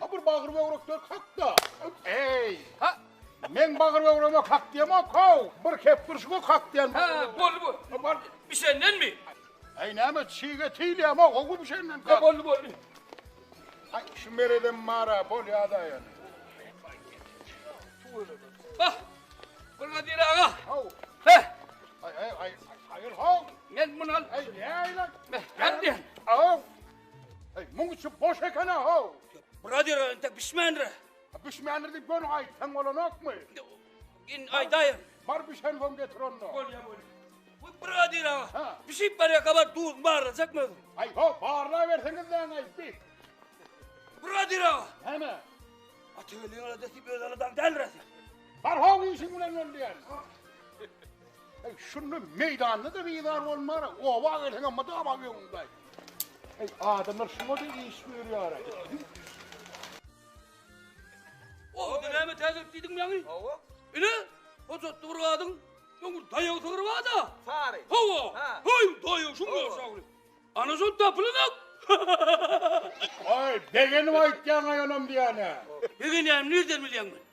Ha bir bagyr böwrekler kakda. Eý, ha. Men bagyr böwreme kak diýemok, how. Bir kep durşuga kak diýen. Ha, boldy bu. Ha, bar. Bişendenmi? Eý, näme çige tiýilýämok, how bişenden. Ha, boldy, boldy. Ay, şu meredem mara, bolýa-da ýöne. Bah, Brigadir aga. How. He. Ay, ay, ay, ay, hayır, how. Men bunu al. Ay, ne aylan? Hadi. How. Hey, muň içi boş ekene how. Biraz ýöre ente bişmändir. Bişmändir diýip göni aýtsaň bolanokmy? Gin aýdaýyn. Bar bişen soň getir onda. Bolýa bolýa. Bu biraz ýöre. Ha. Bişip barýa gabar duz barlajakmy özüm? Aý, ho, barla berseňiz näň aýt diýip. Biraz ýöre. Näme? Atygelin ödesi bir adam däldir. Bar ho işiň bilen öl diýen. Eý, şunda meýdanda-da bizar bolmara, oba gelseň hem mydama öňüňde. Eý, adamlar şuňa-da iş görýär-ä. O, indi näme täzelik diýdiň ýaňy? Hawa. Ine, hojatly bir gadyň öňür daýaw sygry bar-da. Sary. Hawa. Heý, daýaw şuň ýaşagyny. Ana şol tapylanok. Aý, begenip aýtýaň-aý onam diýýän-ä. Begenýänim nirden bilýäň men?